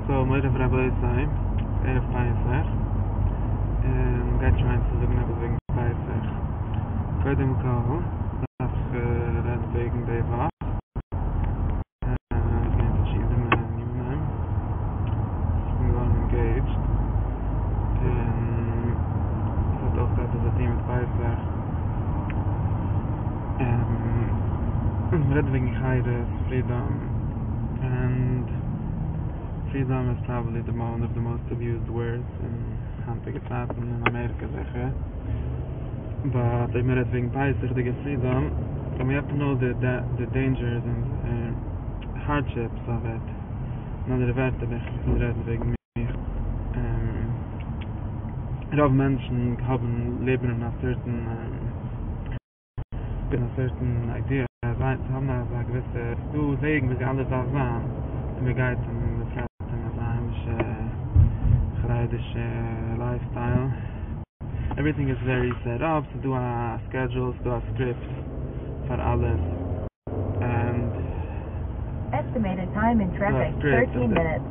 סאו מורי ורבותי, ערב פסח, און גייט שוין צו זאגן עפעס וועגן פסח, קודם כל דארף איך רעדן וועגן די וואך, ס'איז געווען פארשידענע ענינים, איך בין געווארן אינגעידזשד, און ס'האט אויך עפעס צו טון מיט פסח, און מ'רעדט וועגן חיות, פרידאם. ענד פרידאם איז פראבעבלי די וואן אוו די מאסט אביוזד ווארדס אין היינטיגע צייטן אין אמעריקע זיכער באט אויב מען רעדט וועגן בייסיגדיגע פרידאם דען ווי עפען נאו די דעינדזשערס און הארדשיפס אוו איט אין אנדערע ווערטער איך וויל רעדן וועגן מיך רוב מענטשן האבן לעבן אין א סערטען בין א סערטען איידיע אז זיי צו האבן אזא געוויסע ס'דא וועגן וויאזוי אלעס דארף זיין און מען גייט און מען טרעפט אין אזא היימישע חרדישע לייף סטייל עווריטינג איז ווערי סעט אפ ס'דא א סקעדזשול ס'דא א סקריפט פאר אלעס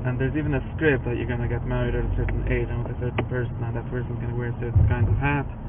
ענד דער'ס איווען א סקריפט אז יו גאנא געט מעריד אט א סערטען עידזש און מיט א סערטען פערסאן און דעט פערסאן איז גאנא וועיר א סערטען קיינד אוו העט.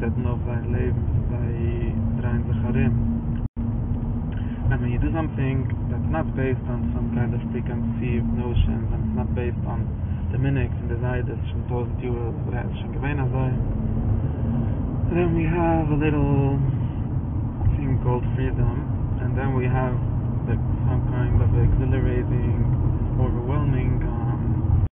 זעצן אויף זייער לעבן זיי דרייען זיך ארום ווען מען דא סאמטינג דעטס נאט בעיסד אן סאם קיינד אוו פרי-קאנסיווד נאושענס און עס נאט בעיסד אן די מנהג פון די זיידעס שוין טויזענט יאר אוודאי איז עס שוין געווען אזוי דען ווי העוו א ליטעל טינג קאלד פרידאם און דען ווי העוו סאם קיינד אוו עקזילערעטינג אבערוועלמינג.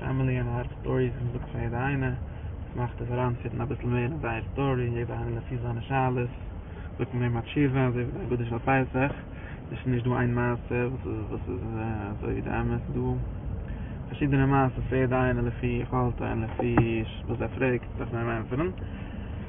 פאמילי און הארט סטאריס וואס מ'זאגט פאר יעדע איינע, וואס מאכט עס אריינפיטן אביסל מער אין זייער סטארי, יעדע איינע לפי זיינע שאלות, זאגט מען אים א תשובה, אזוי ווי די הגדה של פסח, ס'איז נישט דא איין מעשה וואס איז אזוי ווי די אמת, ס'איז דא פארשידענע מעשות פאר יעדע איינע לפי יכולתו און לפי וואס ער פרעגט דארף מען אים ענטפערן.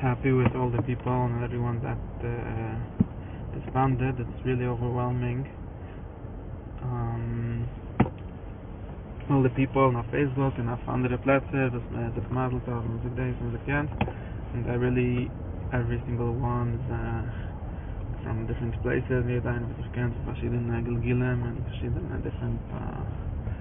העפי וויט אלל די פיפעל ענד עווריוואן דעט ריספאנדעד איטס ריעלי אווערוועלמינג אלל די פיפעל און אויף פעיסבוק און אויף אנדערע פלעצער וואס מען האט זיך מזל טוב און מען זאגט דעיס און מען זאגט יענץ און זיי ריעלי עוורי סינגעל וואן איז פראם דיפרענט פלעיסעס יעדע איינער וואס איך קען פון פארשידענע גלגולים און פארשידענע דיפרענט.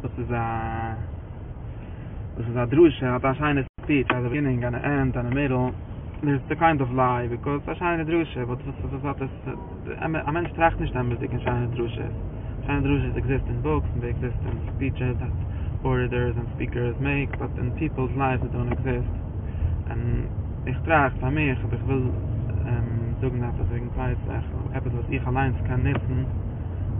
וואס איז א וואס איז א דרשה האט א שיינע ספיטש אז א בגינינג און א ענד און א מידעל דער איז קיינד אוו ליי ביקאויז ס'איז א שיינע דרשה באט וואס וואס האט עס א מענטש טראכט נישט אמת'דיג אין שיינע דרשות שיינע דרשות עקזיסט אין בוקס און זיי עקזיסט אין ספיטשעס דעט ארעטערס און ספיקערס מעיק באט אין פיפעלס לייווס זיי דאנט עקזיסט און איך טראכט פאר מיך אויב איך וויל זאגן עפעס וועגן פייסעך עפעס וואס איך אליינס קען נוצן.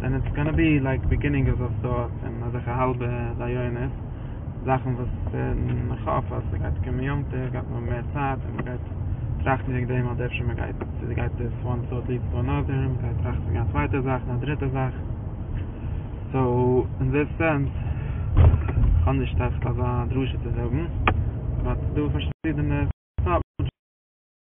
ווען איטס גאנא בי לייק ביגינינג אוו אזא סארט און אזעלכע האלבע רעיונות זאכן וואס איך האף אז ס'גייט קומען יום טוב גייט מען האבן מער צייט און מ'גייט טראכטן וועגן דעם אז אפשר מ'גייט צו גייט דאס וואן סארט ליעדס טו אנאדער מ'גייט טראכטן וועגן א צווייטע זאך און א דריטע זאך סאו אין דעס סענס כ'האב נישט עכט אזא דרשה צו זאגן באט ס'דא פארשידענע סארט מענטשן.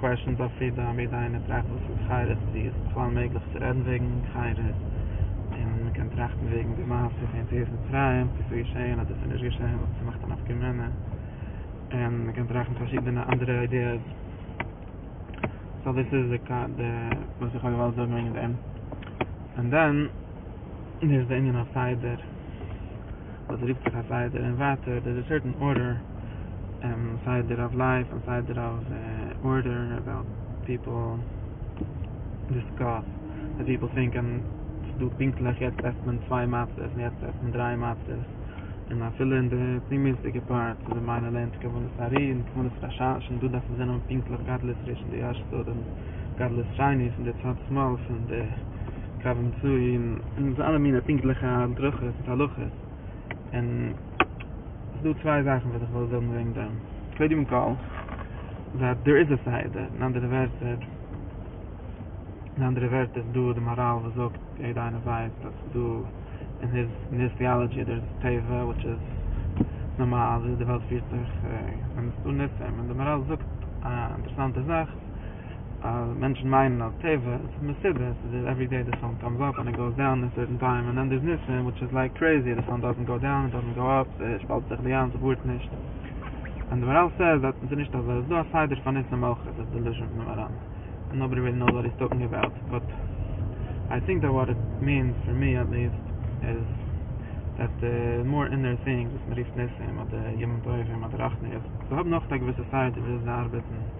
קוועשענס אויף פרידאם, יעדע איינער טראכט וואס איז חירות, צו איז בכלל מעגליך צו רעדן וועגן חירות, און מען קען טראכטן וועגן די מעשה פון יציאת מצרים, צו ס'איז געשען אדער ס'איז נישט געשען, וואס צו מאכט א נפקא מינה, און מען קען טראכטן פארשידענע אנדערע איידיעס. סא דאס איז די וואס איך האב געוואלט זאגן וועגן דעם. און דען איז די ענין הסדר. וואס רופט זיך א סדר און ווייטער דער איז א סערטען ארדער סדר אוו לייף און סדר אוו ארדער אבאוט פיפעל דיסקאס ווי פיפעל טינקען ס'איז דא פונקטליך יעצט עסט מען צוויי מצות און יעצט עסט מען דריי מצות און אפילו אין די פנימיות'דיגע פארט ווי די מיימאר לערנט כוונת הארי און כוונת רש ש און דא דארף מען זען אויב פונקטליך גדלות ראשון די אשת סוד און גדלות שני פון די צד שמאל פון די. קווים צויען און ס'איז אלע מיני פונקטליכע הדרכות מיט הלכות און ס'איז דא צוויי זאכן וואס איך וויל זאגן וועגן דעם קודם כל זייט דער איז א סדר אין אנדערע ווערטער אין אנדערע ווערטער איז דא די מאראל וואס זאגט יעדע איינער ווייסט אז ס'איז דא אין היז אין היז טיאלעדזשי דער איז טבע וויטש איז נארמאל וויאזוי די וועלט פירט זיך און ס'איז דא ניסים און די מאראל זאגט א אינטערעסאנטע זאך. אז מענטשן מיינען אז טבע איז פון מסיבה, עס איז דער עוורידעי די סאן קאמס אפ ענד איט גאוס דאון אין סערטען טיים און דען דער'ס ניסים וויטש איז לייק קרעיזי די סאן דאזענט גאו דאון איט דאזענט גאו אפ עס שפאלט זיך די ים ס'ווארט נישט ווען די מאראל סעיז דאט עס איז נישט אזוי עס איז דא א סדר פאר ניסים אויך עס איז דעלוזשען פון די מאראן און נאובאדי נאוס וואט היז טאלקינג אבאוט באט איי טינק דאט וואט איט מינס פאר מי עט ליעסט איז דאט די מאר אינער טינג וואס מ'רופט ניסים אדער ימים טובים אדער רחניות זיי האבן אויך א געוויסע סדר וויאזוי זיי ארבעטן.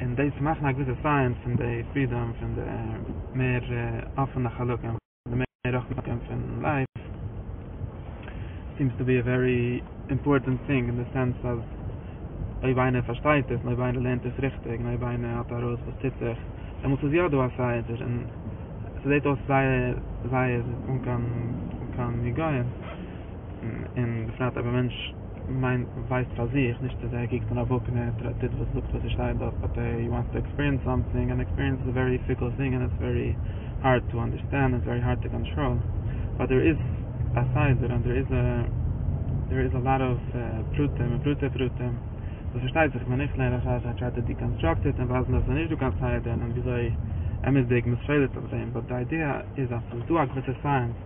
און דאס מאכן א געוויסע סייענס פון די פרידאם פון די מער אפענע חלקים די מער רחבה חלקים פון לייף סיעמס טו בי א ווערי אימפארטענט טינג אין די סענס אז אויב איינער פארשטייט עס און אויב איינער לערנט עס ריכטיג און אויב איינער האט ארויס וואס טוט זיך דעמאלטס איז יא דא א סייענס דערין און ס'זעט אויס זייער זייער אן קיין היגיון און בפרט אויב א מענטש מיין ווייסט פאר זיך, נישט צו זיי קוקט מען אויף וואקן און ער טוט וואס זאגט וואס עס שטייט דארט באט אי וואנטס טו עקספיריענס סאמטינג און עקספיריענס איז א ווערי פיקל טינג און עס ווערי הארד טו אנדערסטענד און עס ווערי הארד טו קאנטראל באט דער איז א סדר און דער איז א דער איז א לאט אוו פרטים און פרטי פרטים וואס פארשטייט זיך ווען איך לערן אזש איי טריי טו דיקאנסטראקט איט און ווייזן אז עס איז נישט דא קיין סדר און וויאזוי אמת'דיג מען סעוועט אויף דעם באט די איידיע איז אז עס איז דא א געוויסע סייענס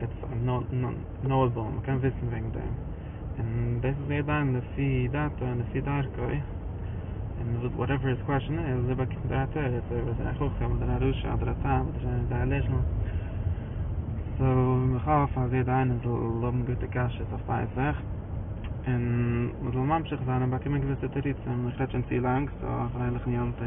איטס נאויבעל מ'קען וויסן וועגן דעם, און דאס איז יעדע איינעם לפי דעתו און לפי דרכו, און וואטעווער היז קוועשאן איז, ער באקומט דער תירוץ, אויב איז ער א חכם אדער א רשע אדער א תם אדער ער איז א עלעזשעל, סאו איך האף אז יעדע איינער זאל האבן גוטע קשיות אויף פסח, און מ'זאל ממשיך זיין און באקומען געוויסע תירוצים, איך רעד שוין צו לאנג, סאו א פרייליכן יום טוב.